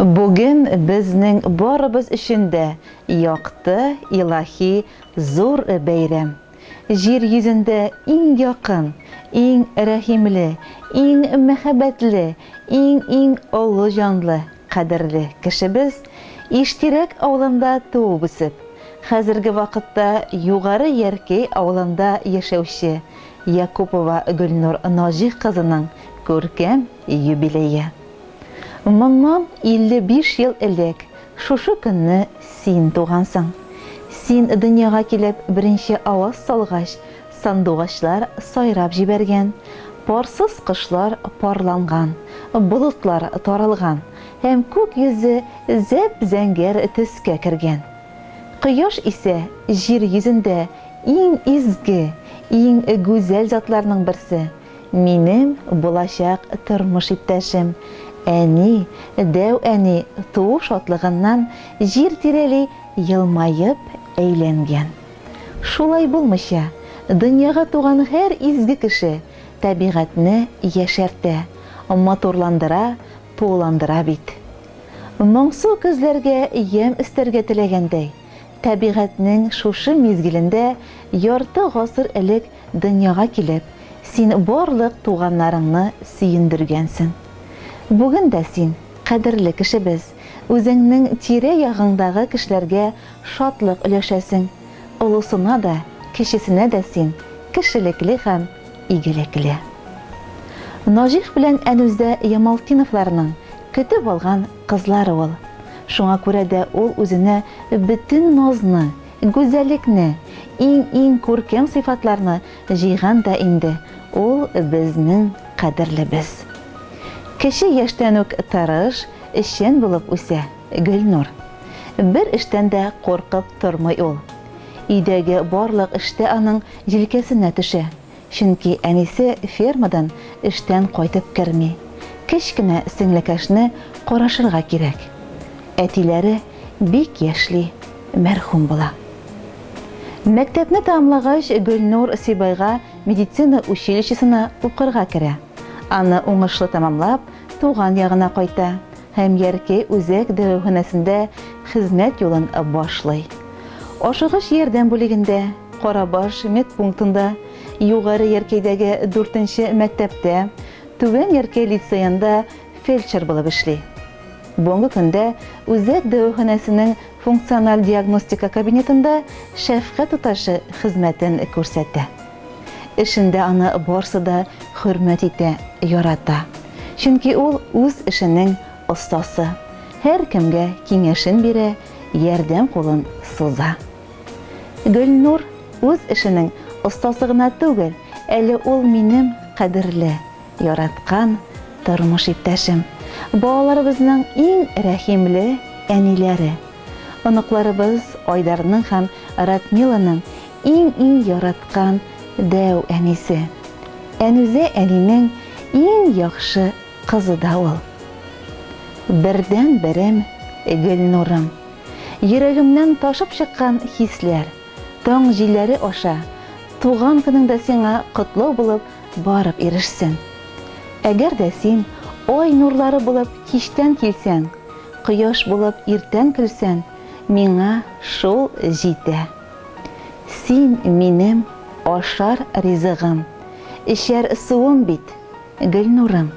Бүген безнең барыбыз өчен дә якты, илаһи зур бәйрәм. Җир йөзендә иң якын, иң рәхимле, иң мәхәббәтле, иң-иң олы җанлы, кадерле кешебез Иштирәк авылында туып-үсеп, хәзерге вакытта Югары Яркәй авылында яшәүче Якупова Гөлнур Наҗих кызының күркәм юбилее. Моннан 55 ел элек шушы көнне син тугансың. Син дөньяга килеп беренче аваз салгач, сандугачлар сайрап җибәргән, парсыз кошлар парланган, болытлар таралган һәм күк йөзе зәп-зәңгәр төскә кергән. Кояш исә җир йөзендә иң изге, иң гүзәл затларның берсе. Минем булачак тормыш иптәшем, әни, дәү әни туу шатлыгыннан җир тирәли елмаеп әйләнгән. Шулай булмыйча, дөньяга туган һәр изге кеше табигатьне яшәртә, матурландыра, тууландыра бит. Моңсу көзләргә ямь өстәргә теләгәндәй, Табигатьнең шушы мизгелендә ярты гасыр элек дөньяга килеп, син барлык туганнарыңны сөендергәнсең. Бүген дә син, кадерле кешебез, үзеңнең тирә-ягыңдагы кешеләргә шатлык өләшәсең. Олысына да, кечесенә дә син кешелекле һәм игелекле. Наҗих белән Әнүзә Ямалтдиновларның көтеп алган кызлары ул. Шуңа күрә дә ул үзенә бөтен назны, гүзәлекне, иң-иң күркәм сыйфатларны җыйган да инде ул безнең кадерлебез. Кече яшьтән үк тырыш, эшчән булып үсә Гөлнур. Бер эштән дә куркып тормый ул. Өйдәге барлык эш тә аның җилкәсенә төшә, чөнки әнисе фермадан эштән кайтып керми. Кечкенә сеңлекәшне карашырга кирәк. Әтиләре бик яшьли мәрхүм була. Мәктәпне тәмамлагач, Гөлнур Сибайга медицина училищесына укырга керә. Аны уңышлы тәмамлап, туган ягына кайта. һәм Яркәй үзәк дәваханәсендә хезмәт юлын башлый. Ашыгыч ярдәм бүлегендә, Карабаш медпунктында, Югары Яркәйдәге дүртенче мәктәптә, Түбән Яркәй лицеенда фельдшер булып эшли. Бүгенге көндә үзәк дәваханәсенең функциональ диагностика кабинетында шәфкать туташы хезмәтен күрсәтә. Эшендә аны барсы да хөрмәт итә, ярата. Чөнки ул үз эшенең остасы. Һәркемгә киңәшен бирә, ярдәм кулын суза. Гөлнур үз эшенең остасы гына түгел, әле ул минем кадерле, яраткан тормыш иптәшем, балаларыбызның иң рәхимле әниләре. Оныкларыбыз Айдарның һәм Радмиланың иң-иң яраткан дәү әнисе. Әнүзә әнинең иң яхшы кызы да ул. Бердәнберем, Гөлнурым. Йөрәгемнән ташып чыккан хисләр, таң җилләре аша туган көнеңдә сиңа котлау булып барып ирешсен. Әгәр дә син ай нурлары булып кичтән килсәң, Кояш булып иртән көлсәң, миңа шул җитә. Син, минем ашар ризыгым, эчәр суым бит, Гөлнурым.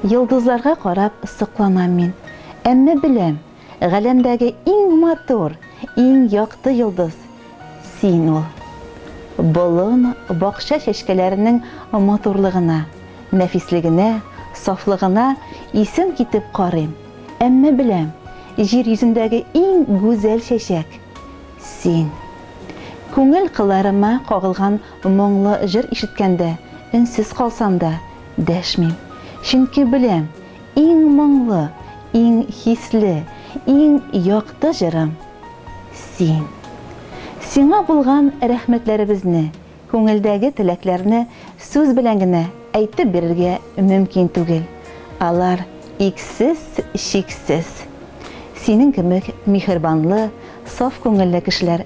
Йолдызларга карап сокланам мин, әмма беләм, галәмдәге иң матур, иң якты йолдыз, Син ул. Болын, бакча чәчкәләренең матурлыгына, нәфислегенә, сафлыгына исем китеп карыйм, әмма беләм, җир йөзендәге иң гүзәл чәчәк, син. Күңел кылларыма кагылган моңлы җыр ишеткәндә, өнсез калсам да, дәшмим, чөнки беләм, Иң моңлы, иң хисле, иң якты җырым, син. Сиңа булган рәхмәтләребезне, күңелдәге теләкләрне сүз белән генә әйтеп бирергә мөмкин түгел, алар иксез, чиксез. Синең кебек миһербанлы, саф күңелле кешеләр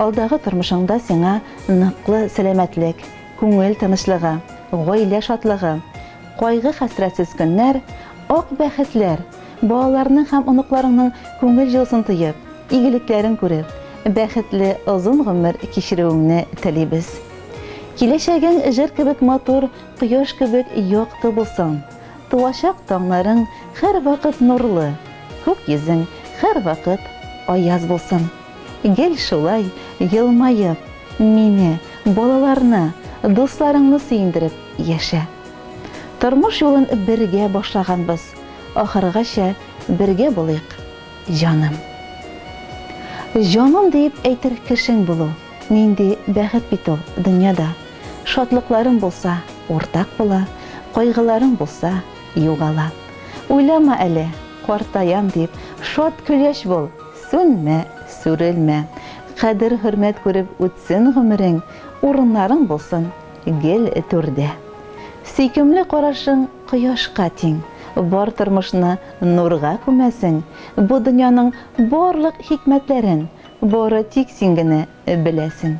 Алдагы тормышыңда сиңа ныклы сәламәтлек, күңел тынычлыгы, гаилә шатлыгы, кайгы-хәсрәтсез көннәр, ак бәхетләр, балаларның һәм оныкларыңның күңел җылысын тоеп, игелекләрен күреп, бәхетле озын гомер кичерүеңне телибез. Киләчәгең җыр кебек матур, кояш кебек якты булсын. Туачак таңнарың һәрвакыт нурлы, күк йөзең һәрвакыт аяз булсын. Гел шулай елмаеп, мине, балаларны, дусларыңны сөендереп яшә. Тормыш юлын бергә башлаганбыз, ахыргача бергә булыйк, җаным. Җаным диеп әйтер кешең булу, нинди бәхет бит ул, дөньяда шатлыкларың булса, уртак була, кайгыларың булса, югала. Уйлама әле, картаям дип, шат-көләч бул! Сүнмә, сүрелмә, кадер-хөрмәт күреп үтсен гомерең, урыннарың булсын гел түрдә. Сөйкемле карашың кояшка тиң, бар тормышны нурга күмәсең, бу дөньяның барлык хикмәтләрен бары тик син генә Беләсең.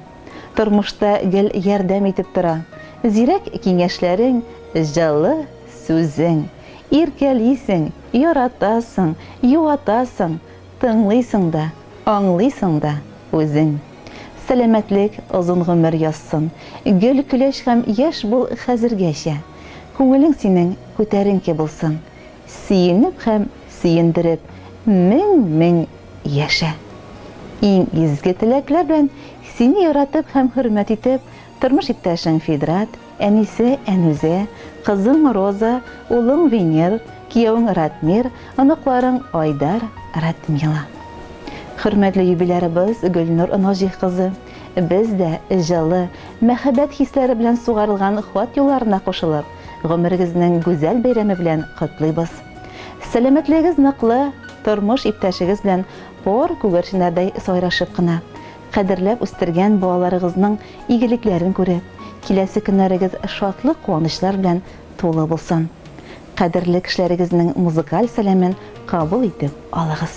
Тормышта гел ярдәм итеп тора. Зирәк киңәшләрең, җылы сүзең. Иркәлисең, яратасың, юатасың, тыңлыйсың да, аңлыйсың да үзең. Сәламәтлек, озын гомер язсын. Гөл, көләч һәм яшь бул хәзергәчә. Күңелең синең күтәренке булсын. сөенеп һәм сөендереп мең-мең яшә. Иң изге теләкләр белән сине яратып һәм хөрмәт итеп, тормыш иптәшең Фидрат, әнисе Әнүзә, кызың Роза, улың Венер, киявең Ратмир, оныкларың Айдар, Радмила. Хөрмәтле юбилярыбыз Гөлнур Ножих кызы, без дә җылы, мәхәббәт хисләре белән сугарылган хат юлларына кушылып, Гомерегезнең гүзәл бәйрәме белән котлыйбыз. Сәламәтлегегез ныклы, тормыш иптәшегез белән пар күгәрченнәрдәй сайрашып кына, кадерләп үстергән балаларыгызның игелекләрен күреп, киләсе көннәрегез шатлык-куанычлар белән тулы булсын. Кадерле кешеләрегезнең музыкаль сәламен кабул итеп алыгыз.